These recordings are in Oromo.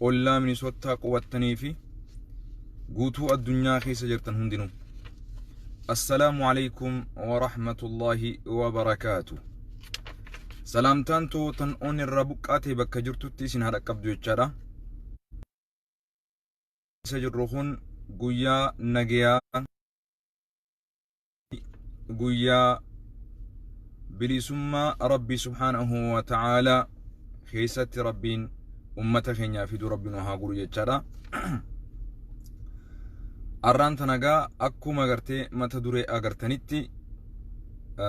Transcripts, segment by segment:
ollaa Minisottaa qubattanii fi guutuu addunyaa keessa jirtan hundinuu. Assalaamu alaikum wa rahmatullahi wa barakaatu. Salaamtaan too tan on irraa buqqaatee bakka jirtutti isin haa dhaqqabdu jechaadha. Isa jirru kun guyyaa nagayaa guyyaa bilisummaa rabbii subhaanahu wa ta'aalaa keessatti rabbiin ummata keenyaa fiduu rabbi nu haa godhu jechaadha. Arraan tanagaa akkuma agartee mata duree agartanitti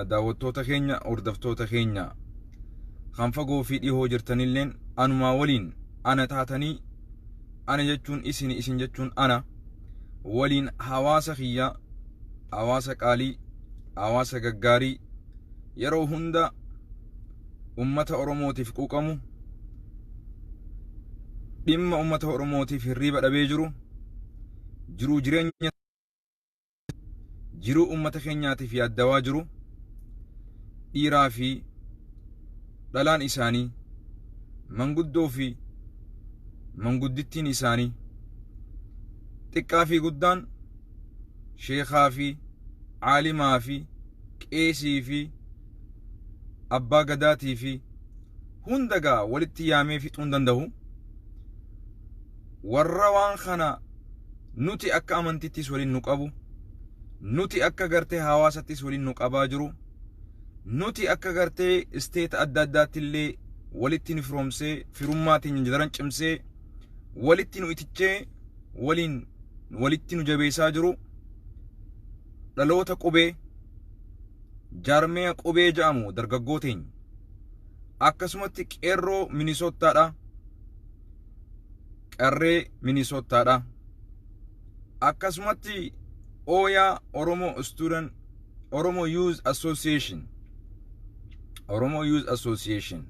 daawwattoota keenya hordoftoota keenya kan fagoo fi dhihoo jirtanilleen anumaa waliin ana taatanii ana jechuun isin isin jechuun ana. waliin hawaasa kiyyaa hawaasa qaalii hawaasa gaggaarii yeroo hunda ummata oromootiif quuqamu dhimma ummata oromootiif hirriiba dhabee jiru jiruu jireenya jiruu ummata keenyaatiif yaaddawaa jiru dhiiraa fi dhalaan isaanii manguddoo fi manguddittiin isaanii xiqqaa fi guddaan sheekaa fi caalimaa fi qeesii fi abbaa gadaatii fi hunda gaa walitti yaamee fixuu hin danda'u warra waan kana nuti akka amantittis waliin nu qabu nuti akka gartee hawaasattis waliin nu qabaa jiru Nuti akka gartee isteeta adda addaatti illee walitti nu firoomsee firummaa teenya daran cimsee walitti nu itichee waliin walitti nu jabeessaa jiru dhaloota qubee jaarmaya qubee ja'amu dargaggoo teenya akkasumatti qeerroo minisoottaadha qarree minisoottaadha akkasumatti ooyaa oromoo istuudan Oromo Youth Association Oromo Youth Association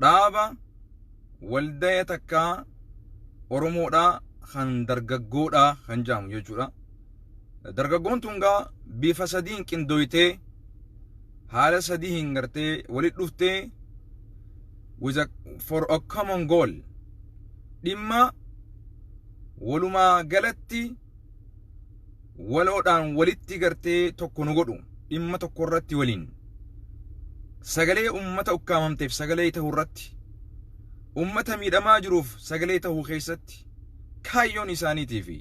dhaaba waldaya takkaa Oromoodhaa kan dargaggoodhaa kan jedhamu jechuudha. Dargaggoon tun gaa bifa sadiin qindooytee haala sadii hin gartee walitti dhuftee with a, for a common goal dhimma walumaa galatti waloodhaan walitti gartee tokko nu godhu dhimma tokko irratti waliin sagalee ummata ukkaamamteef sagalee ta'uu irratti ummata miidhamaa jiruuf sagalee ta'uu keessatti kaayyoon isaaniitii fi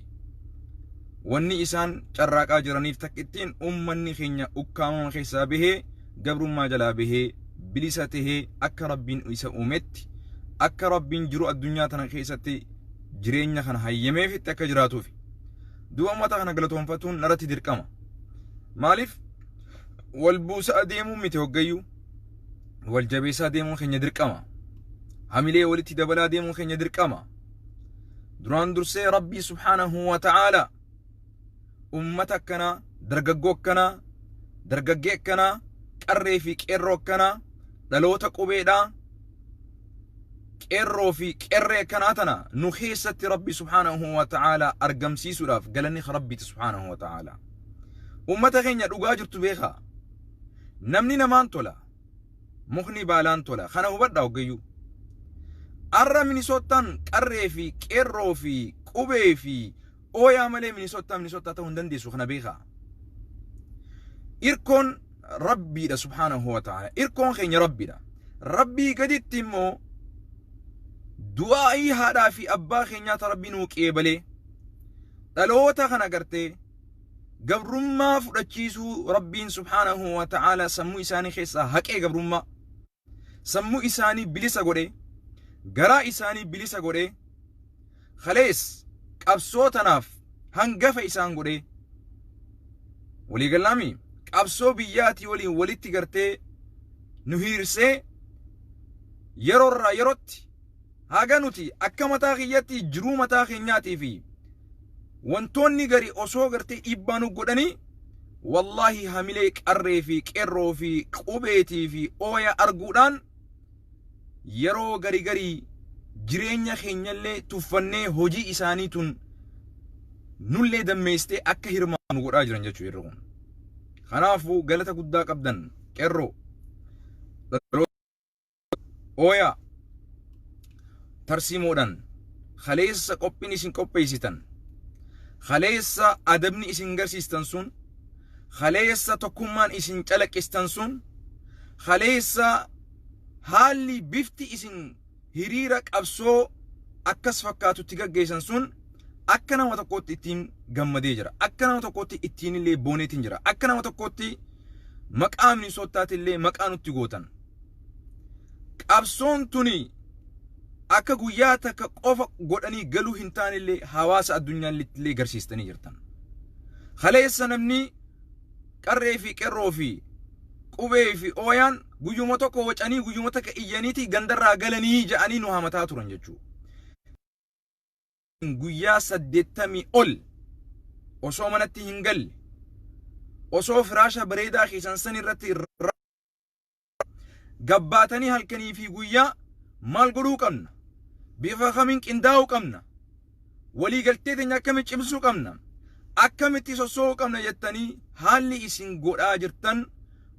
wanni isaan carraaqaa jiraniif takkittiin ummanni keenya ukkaamama keessaa bahee gabrummaa jalaa bahee bilisa tahee akka rabbiin isa uumetti akka rabbiin jiru addunyaa tana keessatti jireenya kana hayyameefitti akka jiraatuufi. Du'a uummata kana galatoonfatuun naratti dirqama. Maaliif wal buusaa deemuun miti hoggayyuu wal jabeessaa deemuun keenya dirqama. Hamilee walitti dabalaa deemuun keenya dirqama. Duraan dursee Rabbii subhaanahu wa ta'aala uummata akkanaa, dargaggoo akkanaa, dargaggee akkanaa, qarree fi qeerroo akkanaa, dhaloota qubeedhaa, qeerroo fi qerree akkanaa tana nu keessatti rabbi subhaanahu wa ta'aalaa argamsiisuudhaaf galanni ka rabbiiti subhaanahu wa ta'aalaa ummata keenya dhugaa jirtu beekaa namni namaan tola mukni baalaan tola kana hubadhaa hoggayyuu arra minisoottaan qarree fi qeerroo fi qubee fi Ooyaa malee Minisottaa Minisottaa ta'uu hin dandeessu kana beekaa. Irkoon Rabbiidha subhaanahu wa ta'ala. Irkoon keenya Rabbiidha. Rabbii gaditti immoo du'aa'ii haadhaa fi abbaa keenyaa ta Rabbii nuu qeebalee dhaloota kana gartee gabrummaa fudhachiisuu Rabbiin subhaanahu wa ta'ala sammuu isaanii keessaa haqee gabrummaa sammuu isaanii bilisa godhee, garaa isaanii bilisa godhee, kalees qabsoo tanaaf hangafa isaan godhee, walii gallaami qabsoo biyyaatii waliin walitti gartee nu hiirsee yeroo irraa yerootti Haga nuti akka mataa kiyyatti jiruu mataa keenyaatii fi wantoonni gari osoo gartee dhiibbaa nu godhanii wallaahi hamilee qarree fi qeerroo fi qubeetii fi ooya arguudhaan yeroo gari garii jireenya keenyallee tuffannee hojii isaanii tun nullee dammeessitee akka hirmaannu godhaa jiran jechuu irra kun. Kanaafuu galata guddaa qabdan qeerroo. Oyaa tarsiimoodhaan kaleessa qophiin isin qopheessitan kaleessa adabni isin garsiistan sun kaleessa tokkummaan isin calaqqistan sun kaleessa haalli bifti isin hiriira qabsoo akkas fakkaatutti gaggeessan sun akka nama tokkootti ittiin gammadee jira akka nama tokkootti ittiin illee booneetiin jira akka nama tokkootti maqaa minisoottaatillee maqaa nutti gootan Qabsoon tuni akka guyyaa takka qofa godhanii galuu hin taanellee hawaasa addunyaallittillee garsiistanii jirtan. Kaleessa namni qarree fi qerroo fi qubee fi ooyaan guyyuma tokko wacanii guyyuma takka iyyaniiti gandarraa galanii ja'anii nu hamataa turan jechuudha. Guyyaa saddeettamii ol osoo manatti hin galle osoo firaasha bareedaa keessan san irratti Gabbaatanii halkanii fi guyyaa maal godhuu qabna? Bifa kamiin qindaa'uu qabna? Walii galtee teenya akkamiin cimsuu qabna? Akkamitti sossoo'uu qabna jettanii haalli isin godhaa jirtan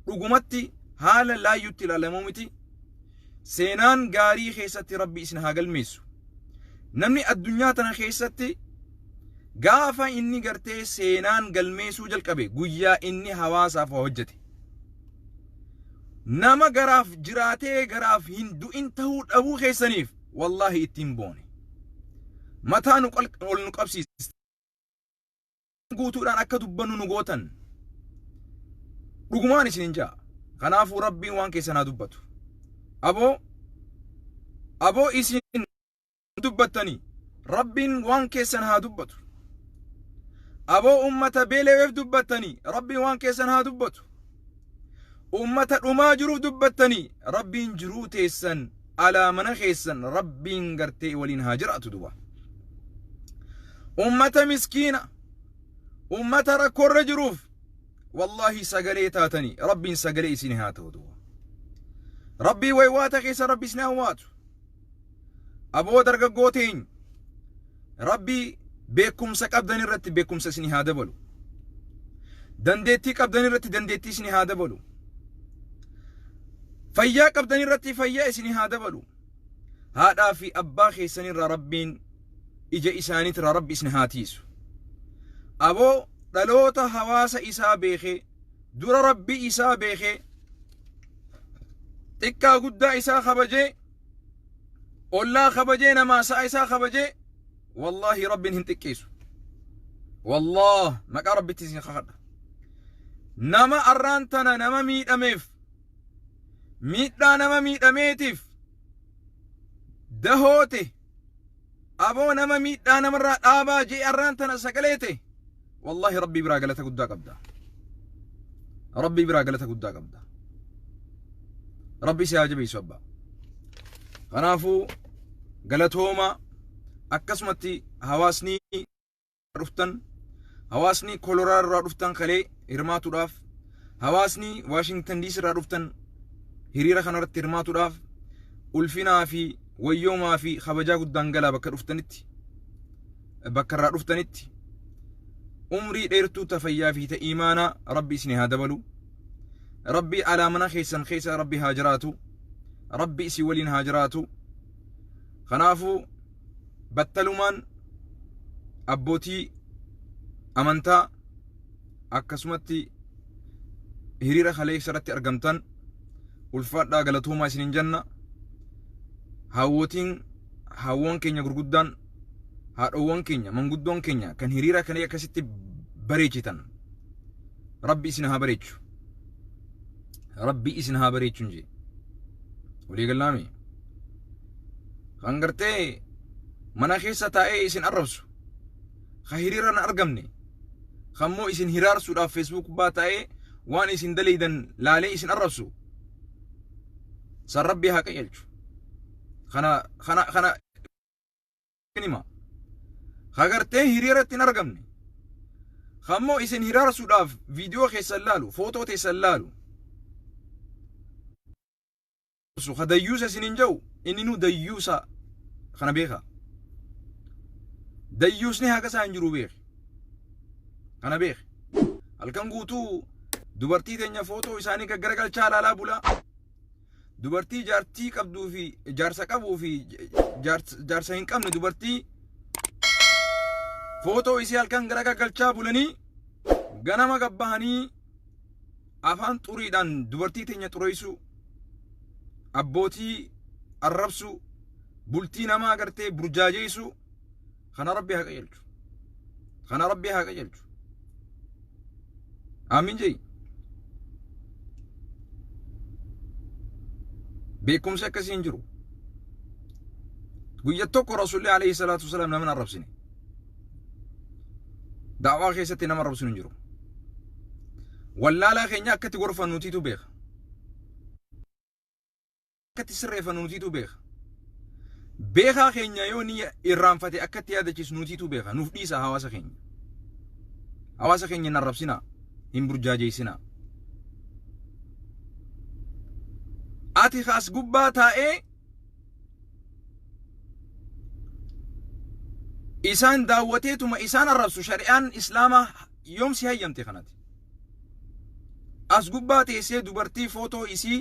dhugumatti haala laayyutti ilaalamuu miti. Seenaan gaarii keessatti Rabbi isin haa galmeessu. Namni addunyaa tana keessatti gaafa inni gartee seenaan galmeessuu jalqabe guyyaa inni hawaasaaf waa hojjete. Nama garaaf jiraatee garaaf hin du'in tahuu dhabuu keessaniif wallaahi ittiin boone. Mataa nu ol nu qabsiistan. guutuudhaan akka dubbannu nu gootan. Dhugumaan isinin ja'a. Kanaafuu rabbiin waan keessan haa dubbatu. Aboo aboo isin dubbattanii rabbiin waan keessan haa dubbatu aboo ummata beeleweef dubbattanii rabbiin waan keessan haa dubbatu ummata dhumaa jiruuf dubbattanii rabbiin jiruu teessan alaa mana keessan rabbiin gartee waliin haa jiraatu duba ummata miskiina ummata rakkoorra jiruuf wallaahi sagalee taatanii rabbiin sagalee isin haa ta'u duba rabbii waywaata keessa rabbi isin haa waatu Aboo dargaggoo teeny rabbi beekumsa qabdan irratti beekumsa isin haa dabalu. Dandeettii qabdan irratti dandeettii isin haa dabalu. Fayyaa qabdan irratti fayyaa isin haa dabalu. Haadhaa fi abbaa keessan irraa rabbiin ija isaaniitirraa rabbi isin haa tiisu. Aboo dhaloota hawaasa isaa beekee dura rabbii isaa beekee xiqqaa guddaa isaa kabajee ollaa kabajee namaa sa'a isaa kabajee wallaahi rabbiin hin xiqqeessu wallaah maqaa rabbitti isin kakadha nama arraan tana nama miidhameef miidhaa nama miidhameetiif dahoote Aboo nama miidhaa namarraa dhaabaa jee arraan tana sagalee tee wallaahi rabbii biraa galata guddaa qabda. Rabbii biraa galata guddaa qabda. Rabbi si haa jabeessu abbaa. Kanaafuu galatooma akkasumatti hawaasni dhuftan hawaasni koloraa irraa dhuftan kalee hirmaatuudhaaf hawaasni waashingtan diis irraa dhuftan hiriira kanarratti hirmaatuudhaaf ulfinaa fi wayyoomaa fi kabajaa guddaan galaa bakka dhuftanitti bakka irraa dhuftanitti umrii dheertuu tafayyaa fi ta'iimaanaa rabbi isin haa dabalu rabbi alaa mana keessan keessa rabbi haa jiraatu rabbi isin waliin haa jiraatu kanaafuu battalumaan abbootii amantaa akkasumatti hiriira kaleessa irratti argamtan ulfaadhaa galatoomaa isiniin jenna hawwootiin hawwoon keenya gurguddaan haadhoowwan keenya manguddoon keenya kan hiriira kana akkasitti bareechitan rabbi isin haa bareechu rabbi isin haa bareechu hin jee walii gallaamee kan gartee mana keessa taa'ee isin arrabsu ka hiriira hin argamne kan immoo isin hiraarsuudhaaf feesbuuk gubbaa taa'ee waan isin daleeydan laalee isin arrabsu san rabbii haa qajeelchu kana kana kana hima ka gartee hiriiratti hin argamne kan immoo isin hiraarsuudhaaf viidiyoo keessan laalu footoo teessan laalu Su ka dayyuusa isiniin ja'u inninuu dayyuusa kana beekaa. Dayyuusni haqa isaa hin jiru beeki. Kana beeki. Halkan guutuu dubartii teenya footoo isaanii gaggaragalchaa laalaa bulaa. Dubartii jaartii qabduu fi jaarsa qabuu fi jaars- jaarsa hin qabne dubartii footoo isii halkan garagagalchaa bulanii ganama gabbahanii afaan xuriidhaan dubartii teenya xureessuu, abbootii arrabsuu, bultii namaa gartee burjaajeessuu kana rabbi haa qajeelchu. Kana rabbi haa qajeelchu. Aamiin jedhi. Beekumsi akkasii hin jiru. Guyya tokko Rasuulli alayhi salaatu wasalaam nama hin arrabsine. Daawaa keessatti nama arrabsuun hin jiru. Wallaalaa keenya akka itti gorfannu nutiitu beeka. Akka itti sirreeffannu nutiitu beeka. Beekaa keenya yoo ni irraanfate akka itti yaadachiisu nutiitu beeka. Nuuf dhiisa hawaasa keenya. Hawaasa keenya hin arrabsinaa. Hin burjaajeessinaa. Ati kaas gubbaa taa'ee isaan daawwateetuma isaan arrabsu shari'aan islaamaa yoom si hayyamte kanati as gubbaa teessee dubartii footoo isii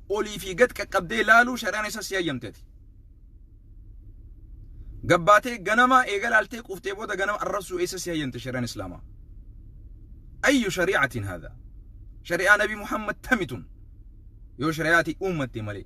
olii fi gad qaqqabdee laaluu shari'aan isa si hayyamteti gabbaatee ganama eega laaltee quuftee booda ganama arrabsuu isa si hayyamte shari'aan islaamaa ayyu shari'atiin haadha shari'aa nabi muhammad tamitun yoo shari'aatii uummatte malee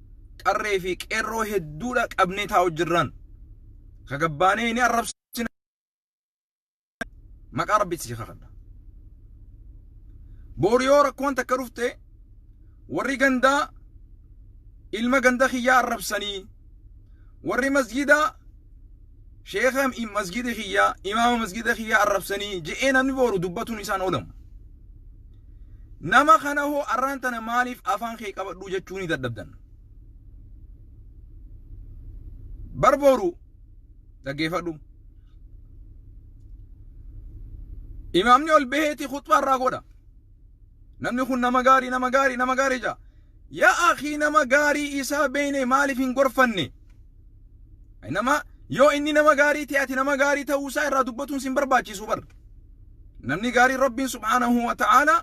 qarree fi qeerroo hedduudha qabnee taa'u jirran ka gabbaanee hin arrabsina maqaa rabbitti si kakadha boori yoo rakkoon takka dhufte warri gandaa ilma ganda kiyyaa arrabsanii warri masjidaa sheeka masjida kiyyaa imaama masjida kiyyaa arrabsanii je'ee namni booru dubbatuun isaan oolamu Nama kana hoo arraan tana maaliif afaan kee qabadhuu jechuunii dadhabdan? Bar boru dhaggeeffadhu. Imaamni ol baheeti khuxbaa irraa godha. Namni kun nama gaarii nama gaarii nama gaarii jaa. Yaa akii nama gaarii isaa beeyne maaliif hin gorfanne? Nama yoo inni nama gaarii ta'e ati nama gaarii ta'uu isaa irraa dubbatuun sin barbaachisu bar. namni gaariin rabbiin subhaanahu wa ta'aala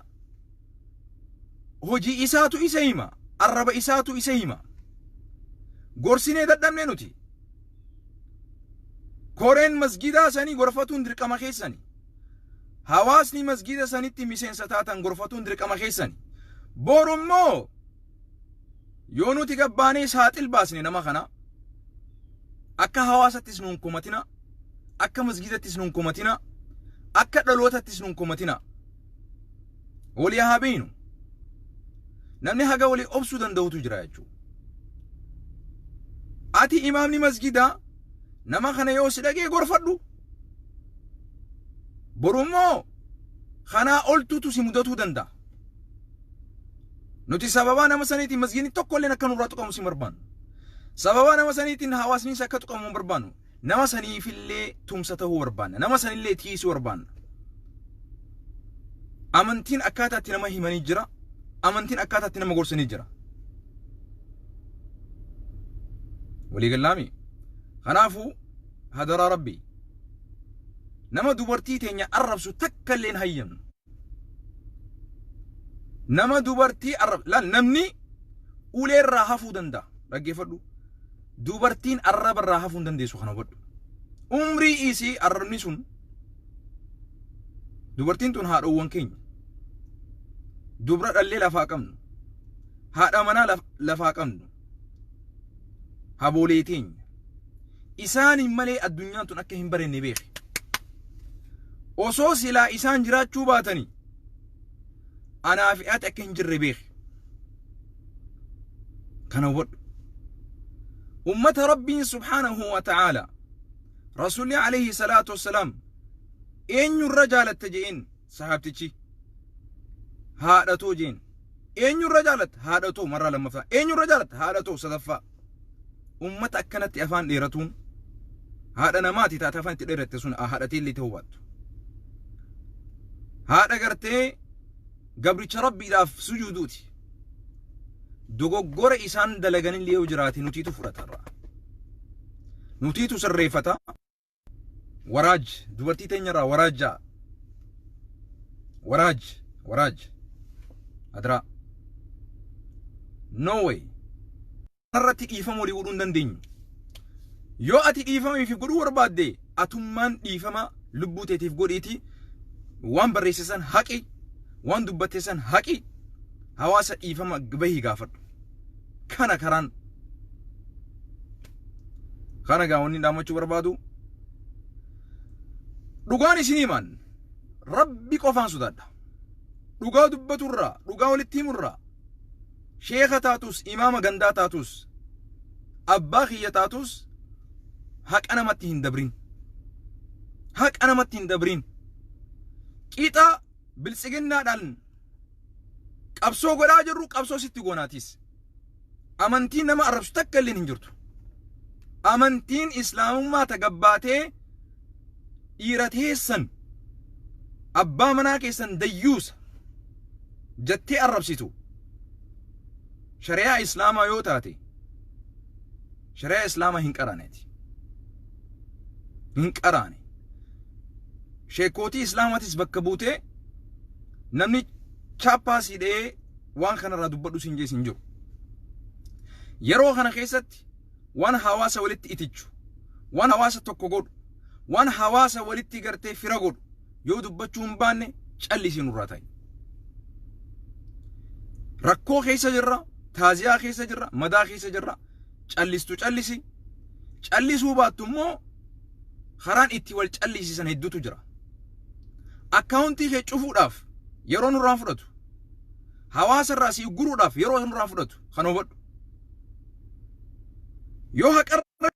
hojii isaatu isa hima arraba isaatu isa hima gorsinee dadhabne nuti koreen masgidaa sanii gorfatuun dirqama keessani hawaasni masgida sanitti miseensa taatan gorfatuun dirqama keessani borummoo Yoo nuti gabbaanee saaxil baasne nama kana akka hawaasattis nuun komatina, akka masgiidattis nuun komatina, akka dhalootattis nuun komatina. Walii haa beeynu. Namni haga walii obsuu danda'utu jira jechuudha. Ati imaamni masgidaa nama kana yoo si dhagee gorfadhu. Boru immoo kanaa oltuutu si mudatuu danda'a. Nuti sababaa nama saniitiin masgiidni tokkolleen akka nurraa tuqamus hin barbaannu. Sababaa nama saniitiin hawaasnis akka tuqamu hin barbaannu. Nama saniifillee tumsa ta'uu barbaanna. Nama sanillee tiisuu barbaanna. Amantiin akkaataa itti nama himanii jira. Amantiin akkaataa itti nama gorsanii jira. Walii gallaami. Kanaafuu hadaraa rabbii nama dubartii teenya arrabsu takka illee hin hayyamnu. Nama dubartii arrab laal namni ulee irraa hafuu danda'a dhaggeeffadhu. Dubartiin arraba irraa hafuu hin dandeessu kana hubadhu. Umrii isii arrabni sun dubartiin tun haadhoowwan keenya dubra dhallee lafaa qabnu haadha manaa lafaa qabnu haboolee teenya isaaniin malee addunyaan tun akka hin barenne beeke osoo silaa isaan jiraachuu baatanii anaa fi ati akka hin jirre beeke kana hubadhu ummata rabbiin subhaanahu wa ta'aala rasuulli alayhi salaatu wassalaam eenyurra jaalatta je'een sahabtichi haadhatoo jeen eenyurra jaalatta haadhatoo marraa lammaffaa eenyurra jaalatta haadhatoo sadaffaa ummata akkanatti afaan dheeratuun haadha namaati taate afaan itti dheeratte sun haadhatee illee ta'uu baattu haadha gartee gabricha rabbiidhaaf sujuuduuti dogoggora isaan dalaganillee yoo jiraate nutiitu fudhatarra nutiitu sirreeffata waraaj dubartii teenyarraa waraajjaa waraaj waraaj adraa no way irratti dhiifama walii godhuu hin dandeenyu yoo ati dhiifama ifi godhuu barbaadde atummaan dhiifama lubbuu teetiif godhiiti waan barreesse san haqi waan dubbatte san haqi hawaasa dhiifama bahii gaafadhu kana karaan Kana gaa wanni dhaamachuu barbaadu dhugaan isin himan rabbi qofaan sodaadha. Dhugaa dubbaturraa, dhugaa walitti himurraa, sheeka taatus, imaama gandaa taatus, abbaa kiyya taatus haqa namatti hin dabrin. Haqa namatti hin dabrin. Qixa biltsiginnaadhaan qabsoo godhaa jirru qabsoo sitti goonaatis. Amantiin nama arrabsu takka illeen hin jirtu. Amantiin islaamummaa ta gabbaatee dhiira teessan abbaa manaa keessan dayyuusa jattee arrabsitu shari'aa islaamaa yoo taate shari'aa islaamaa hin qaraaneeti. Hin qaraane. Sheekootii islaamaatis bakka buutee namni chaappaa siidhee waan kanarraa dubbadhu siin jee siin jiru. Yeroo kana keessatti waan hawaasa walitti itichu, waan hawaasa tokko godhu, waan hawaasa walitti gartee fira godhu yoo dubbachuu hin baanne callisii nurraa ta'i. Rakkoo keessa jirra, taaziyaa keessa jirra, madaa keessa jirra, callistu callisi. Callisuu baattu immoo karaan itti wal callisiisan hedduutu jira. Akkaawuntii kee cufuudhaaf yeroo nurraa fudhatu. hawaasa irraa si ugguruudhaaf yeroo nurraa fudhatu kana hubadhu. Yoo haqarra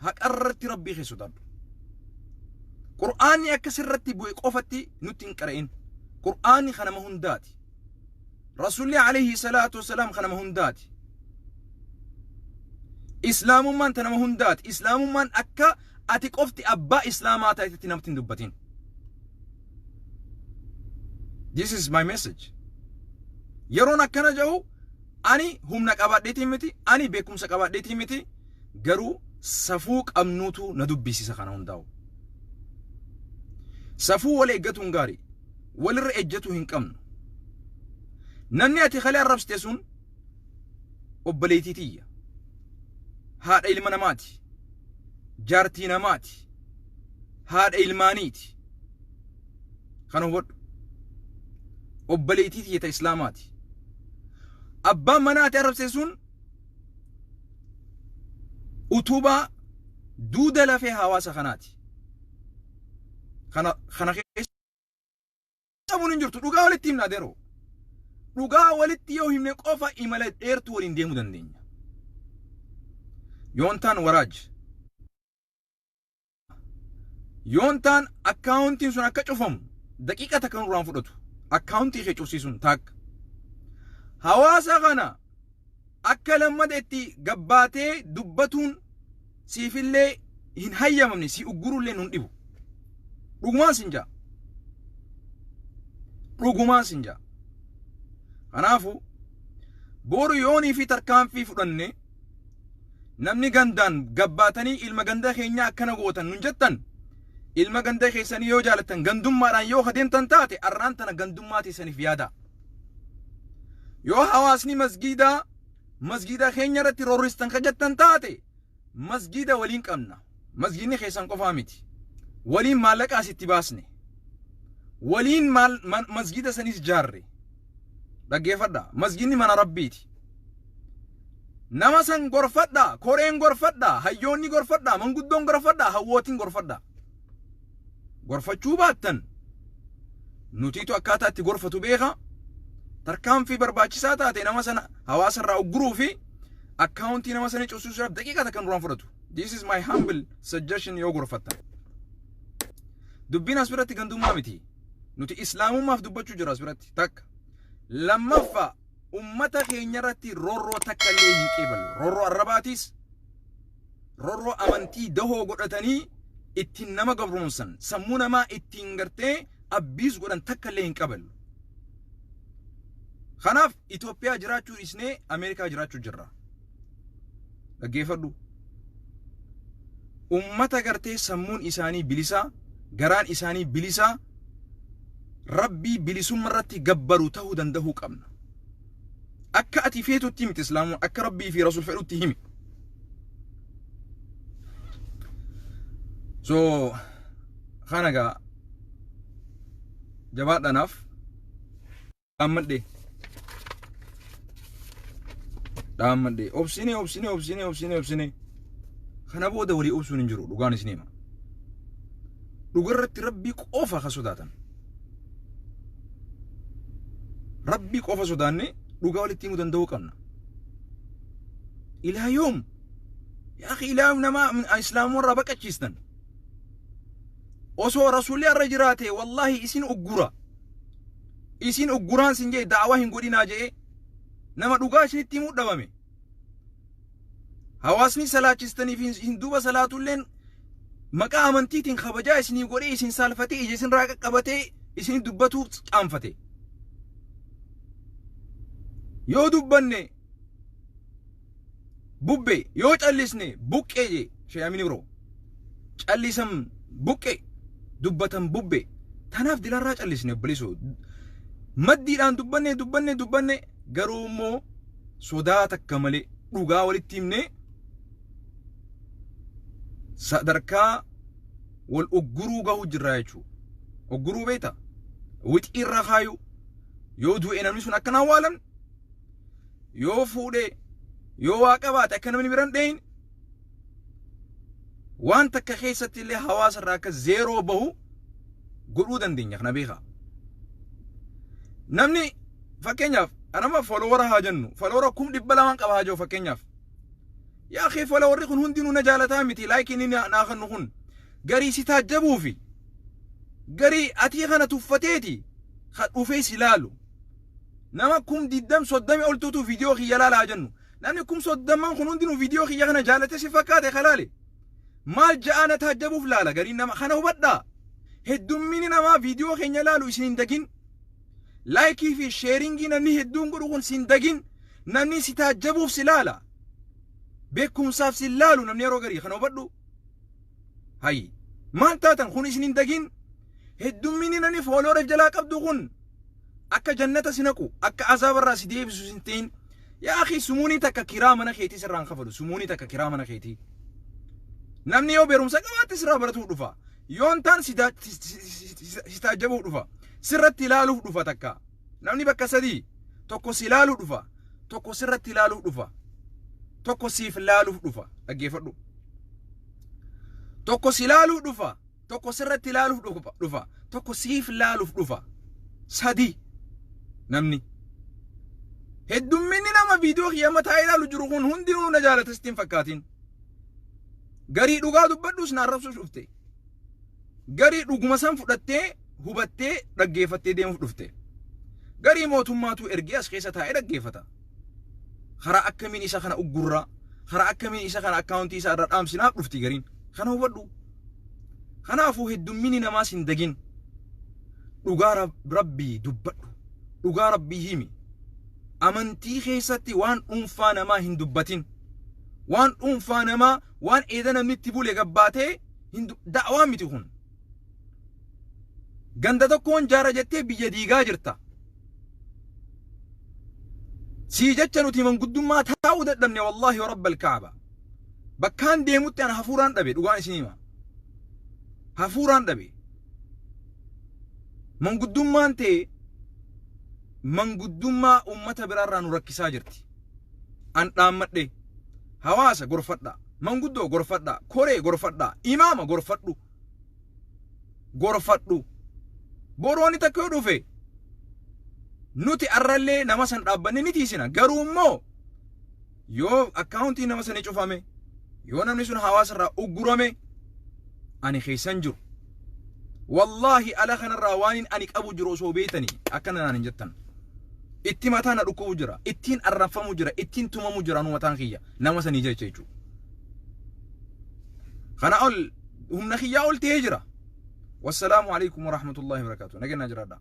haqarratti rabbii kee sodaadhu. Qur'aanni akka sirratti bu'e qofatti nutti hin qara'in. Qur'aanni kan nama hundaati. Rasuulli alayhi salaatu wasalaam kan nama hundaati. Islaamummaan ta nama hundaati. Islaamummaan akka ati qofti abbaa islaamaa ta'etti namatti hin dubbatin. this is my message yeroon akkana jedhu ani humna qabaadheetii miti ani beekumsa qabaadheetii miti garuu safuu qabnuutu na dubbisiisa kana hundaa'u safuu wal eeggatuun gaarii walirra ejjetuu hin qabnu namni ati kalee arrabsite sun obboleetii tiyya haadha ilma namaati jaartii namaati haadha ilmaaniiti kana hubadhu obboleetii tiyya ta islaamaati abbaan manaa ati arrabse sun utubaa duuda lafee hawaasa kanaati kana kana keessa Dhabuun hin jirtu dhugaa walitti himnaa deroo. Dhugaa walitti yoo himne qofa imala dheertuu waliin deemuu dandeenya. Yoontaan waraaj. Yoontaan akkaawuntiin sun akka cufamu daqiiqa takka nurraan fudhatu. Akkaawuntii kee cufsiisuun taakka. Hawaasa kana Akka lammata itti gabbaatee dubbatuun siifillee hin hayyamamne, si uggurullee nun dhibu. Dhugumaan sin ja'a. Dhugumaan sin ja'a. Kanaafuu boru yoonii fi tarkaanfii fudhanne namni gandaan gabbaatanii ilma ganda keenyaa akkana gootan nun jettan ilma ganda keessanii yoo jaalattan gandummaadhaan yoo adeemtan taate arraan tana gandummaa teessaniif yaadaa. yoo hawaasni masgiidaa masgiida keenya irratti roorristan ka jettan taate masgiida waliin qabna masgiidni keessan qofaa miti waliin maallaqaas itti baasne waliin maal man- masgiida sanis jaarre dhaggeeffadha masgiidni mana rabbiiti nama san gorfadha koreen gorfadha hayyoonni gorfadha manguddoon gorfadha hawwootiin gorfadha gorfachuu baattan nutiitu akkaataa itti gorfatu beeka tarkaanfii barbaachisaa taate nama sana hawaasa irraa ugguruu fi akkaawuntii nama sana cufsiisuudhaaf daqiiqaa takka nurraan fudhatu. This is my humble suggestion yoo gorfattan. Dubbiin as biratti gandummaa miti. Nuti islaamummaaf dubbachuu jira as biratti takka. Lammaffaa ummata keenya irratti rorroo takka illee hin qeebalu. Rorroo arrabaatiis rorroo amantii dahoo godhatanii ittiin nama gabroomsan sammuu namaa ittiin gartee abbiis godhan takka illee hin qaban. Kanaaf Itoophiyaa jiraachuu dhiisnee Ameerikaa jiraachuu jirra. Dhaggeeffadhu. Uummata gartee sammuun isaanii bilisaa, garaan isaanii bilisaa, rabbii bilisumma irratti gabbaru ta'uu danda'uu qabna. akka ati feetutti miti islaamuun akka rabbii fi rasul fedhutti himi so kana gaa jabaadhanaaf dhaammadhe dhaammadhe obsine obsine obsine obsine obsine kana booda walii obsuun hin jiru dhugaan isin hima dhugarratti rabbii qofa ka sodaatan Rabbii qofa sodaannee dhugaa walitti himuu danda'uu qabna. Ilaa yoom? Yaa akhi ilaa yoom nama islaamuu irraa baqachiistan? Osoo rasuulli irra jiraate wallahi isin uggura. Isin ugguraan sin jee da'awaa hin godhinaa jee nama dhugaa isinitti himuu dhabame. Hawaasni salaachistanii fi isin duuba salaatulleen maqaa amantiitiin kabajaa isinii godhee isin saalfatee ija isinirraa qaqqabatee isin dubbatuu qaanfate. Yoo dubbanne bubbe yoo callisne buqqee jee sheeyamini biroo. Callisan buqqee dubbatan bubbe. Tanaaf dilarraa callisne obboleessoo. Maddiidhaan dubbanne dubbanne dubbanne garuu immoo sodaa takka malee dhugaa walitti himnee sadarkaa wal ugguruu gahuu jirraa jechuudha. Ugguruu beektaa? Wixii irra kaayuu yoo du'e namni sun akkanaan waalan yoo fuudhee yoo waa qabaate akka namni biran dhahin waan takka keessatti illee hawaasa irraa akka zeeroo bahu godhuu dandeenya kana beekaa. Namni fakkeenyaaf anama folowara haa jennu folowara kum dhibba lamaan qaba haa jiru fakkeenyaaf. Yaa kee folowarri kun hundinuu na jaalataa miti laayikii inni naa kennu kun garii si taajjabuu fi garii atii kana tuffateeti kan dhufee si laalu. Nama kum diddam soddami oltuutu viidiyoo kiyya laala haa jennu. Namni kum soddomman kun hundinuu video kiyya kana jaalate si fakkaate ka laale maal ja'aa na taajjabuuf laala gariin nama kana hubadhaa heddummini namaa video keenya laalu isin hin dagin laayikii fi sheeringii namni hedduun godhu kun sin dagin namni si taajjabuuf si laala beekumsaaf sin laalu namni yeroo garii kana hubadhu hayi maal taatan kun isin hin dagin heddummini namni foolooreef jalaa qabdu kun Akka jannata si naqu, akka azaaba irraa si deebisu sin ta'in. Yaa akhii sumuunii takka kiraa mana keetii sirraa hin kafalu. Sumuunii takka kiraa mana keetii. Namni yoo beerumsa qabaatte sirraa baratuuf dhufa. Yoon taan si daa- si- si- si- si- si- si taajjabuuf dhufa. Sirratti ilaaluuf dhufa takka. Namni bakka sadii tokko si ilaaluu dhufa. Tokko sirratti ilaaluuf dhufa. Tokko siif ilaaluuf dhufa. Dhaggeeffadhu. Tokko si ilaaluu dhufa. tokko sirratti ilaaluuf dhufa- dhufa tokko siif ilaaluuf dhufa sadi namni heddumminni nama viidiyoo kiyya mataa ilaalu jiru kun hundinuu na jaalata sitti hin fakkaatin garii dhugaa dubbadhuus na arrabsuuf dhufte garii dhuguma san fudhattee hubattee dhaggeeffattee deemuuf dhufte garii mootummaatu ergee as keessa taa'ee dhaggeeffata Karaa akkamiin isa kana uggurraa? Karaa akkamiin isa kana akkaawuntii isaa irra dhaamsinaaf dhufti gariin. Kana hubadhu. Kanaafuu heddummini namaas hin dagin. Dhugaa Rab- rabbii dubbadhu. Dhugaa rabbii himi. Amantii keessatti waan dhuunfaa namaa hin dubbatin. Waan dhuunfaa namaa waan eeda namni itti bule gabbaatee hin du- da'waa miti kun. Ganda tokkoon jaara jettee biyya diigaa jirta. Sii jecha nuti manguddummaa taa'uu dadhabne wallaahi rabbal kaaba. Bakkaan deemutti ana hafuuraan dhabe dhugaan isin hima. Hafuuraan dhabe. Manguddummaan tee manguddummaa uummata biraarraa nu rakkisaa jirti. An dhaammadhe hawaasa gorfadhaa. Manguddoo gorfadhaa, koree gorfadhaa, imaama gorfadhu. Gorfadhu. Borooni takka yoo dhufe nuti arrallee nama san dhaabbanne ni tiisina. Garuu immoo yoo akkaawuntii nama sanii cufame, yoo namni sun hawaasa irraa uggurame, ani keessan jiru. Wallaahi ala kanarraa waanin ani qabu jiru osoo beeytanii akkana naan hin jettan. Itti mataa na dhukkubu jira, ittiin arraffamu jira, ittiin tumamu jira nu mataan kiyya. nama sanii jecha jechuudha. Kana ol humna kiyyaa ol ta'ee jira. Wassalaamu alaikum warahmatullahi wabarakatuh. Nageenyaa jiraadhaa.